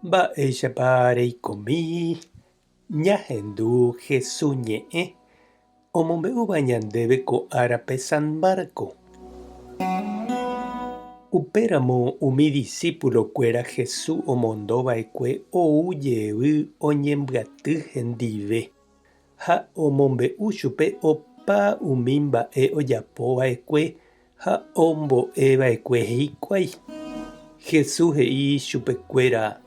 Mba'éichapa reikomi ñahendu Jesús ñe'ẽ omombe'úva ñandéve ko árape San Marcos? Upéramo umi disípulokuéra Jesús omondo va'ekue ou jevy oñembyaty hendive. ha omombe'u chupe opa umi mba'e ojapova'ekue ha ombo'eva'ekue hikuái. Jesús he'i chupekuéra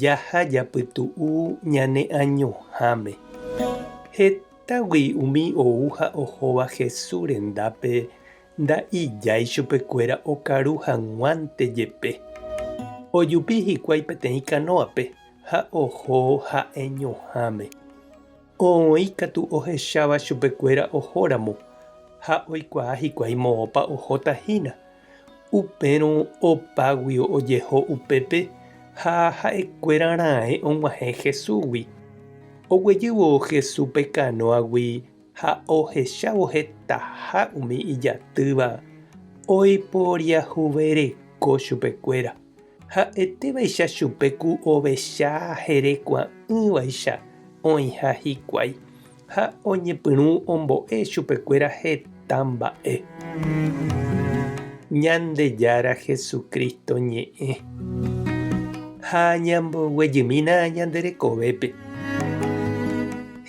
jaha japytu'u ñane añoháme. Hetagui umi ou ha ohóva Jesús rendápe nda'ijái chupekuéra okaru hag̃uánte jepe. Ojupi hikuái peteĩ kanóape ha oho ha'e ñuhãme. Oĩ katu ohecháva chupekuéra ohóramo ha oikuaa hikuái moõpa ohóta hína. Upérõ opágui ojeho upépe ha ha'ekuéra raẽ og̃uahẽ Jesúsgui. Oguejývo Jesús pe kanóagui ha ohechávo hetaha umi ijatýva oiporiahuvereko chupekuéra. Ha'ete vaicha chupe ku ovecha jerekua'ỹvaicha oĩha hikuái, ha oñepyrũ ombo'e chupekuéra heta mba'e. Ñandejára Jesucristo ñe'ẽ ha ñamboguejymína ñande rekovépe.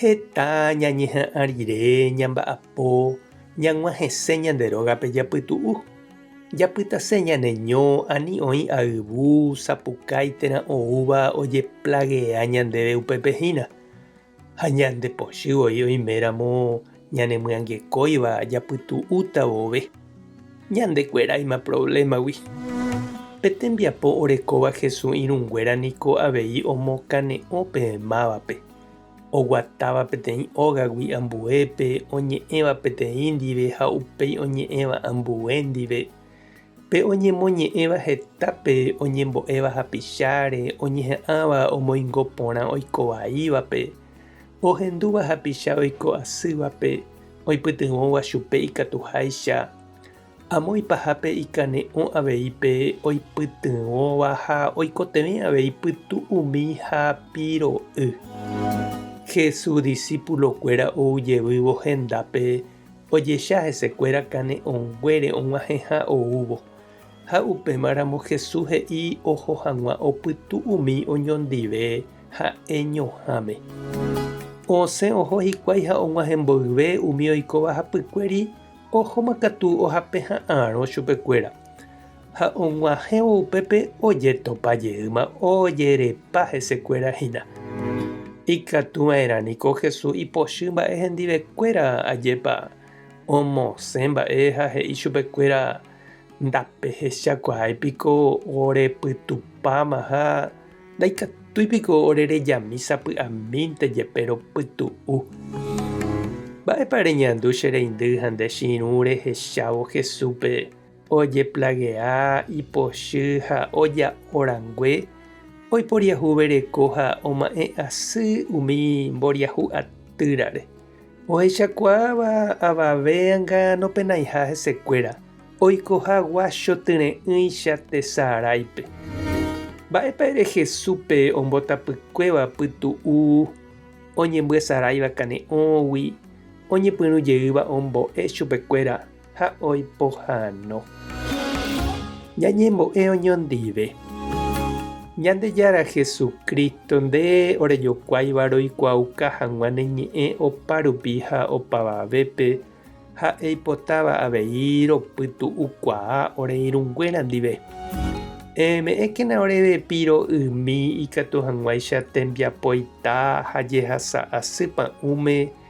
Heta ñañeha'ã rire ñamba'apo ñag̃uahẽse ñande rógape japytu'u. Japytase ñaneño ani oĩ ayvu, sapukái térã oúva ojeplagea ñandéve upépe hína. Ha ñande pochy voi oiméramo ñanemyangekóiva japytu'úta vove, ñandekueráima provlémagui. Pe tembiapo orekóva Jesús irũnguéra niko avei omokane'õ pe mávape. oguatáva peteĩ ógagui ambuépe, oñe'ẽva peteĩ ndive ha upéi oñe'ẽva ambue ndive, pe oñemoñe'ẽva hetápe oñembo'éva hapicháre, oñeha'ãva omoingo porã oiko vaívape, ohendúva hapicha oiko asývape, oipytyvõva chupe ikatuháicha, Amo ipahápe ikane'õ avei pe oipytyvõva ha oikotevẽ avei pytu umi ha piro'y. Jesús disípulokuéra ou jevývo hendápe ojecha hesekuéra kane'õnguére og̃uahẽha oúvo. Ha upémaramo Jesús he'i oho hag̃ua opytu umi oñondive ha'e ñohãme. Osẽ oho hikuái ha og̃uahẽ mboyve umi oikóva hapykuéri. Ohóma katu ohape ha'arõ chupekuéra, ha og̃uahẽvo upépe ojetopa jeýma ojerepa hesekuéra hína. Ikatu va'erã niko Jesús ipochy mba'e hendivekuéra ajépa omosẽ mba'e ha he'i chupekuéra, Ndapehechakuaái piko ore pytupáma ha Ndaikatúi piko ore rejami sapy'amínte jepe ropytu'u? Mba'épa reñandu che reindy ha nde chirũ rehechávo Jesúspe ojeplagea ipochy ha oja'o rangue oiporiahuvereko ha oma'ẽ asy umi mboriahu atýrare? Ohechakuaáva avave anga nopenaiha hesekuéra oikoha guachotyre'ỹicha tesaráipe. Mba'épa ere Jesúspe ombotapykuéva pytu'u oñembyasaráiva kane'õgui oñepyrũ jeýva ombo'e chupekuéra ha oipohano. Ñañembo'e oñondive. Ñandejára Jesucristo, nde orejokuáiva roikuaauka hag̃ua ne ñe'ẽ opárupi ha opavavépe, ha eipotáva avei ropytu'ukuaa ore irũnguéra ndive. Eme'ẽkena oréve piro ými ikatu hag̃uáicha tembiapoita ha jehasa asy pa'ũme,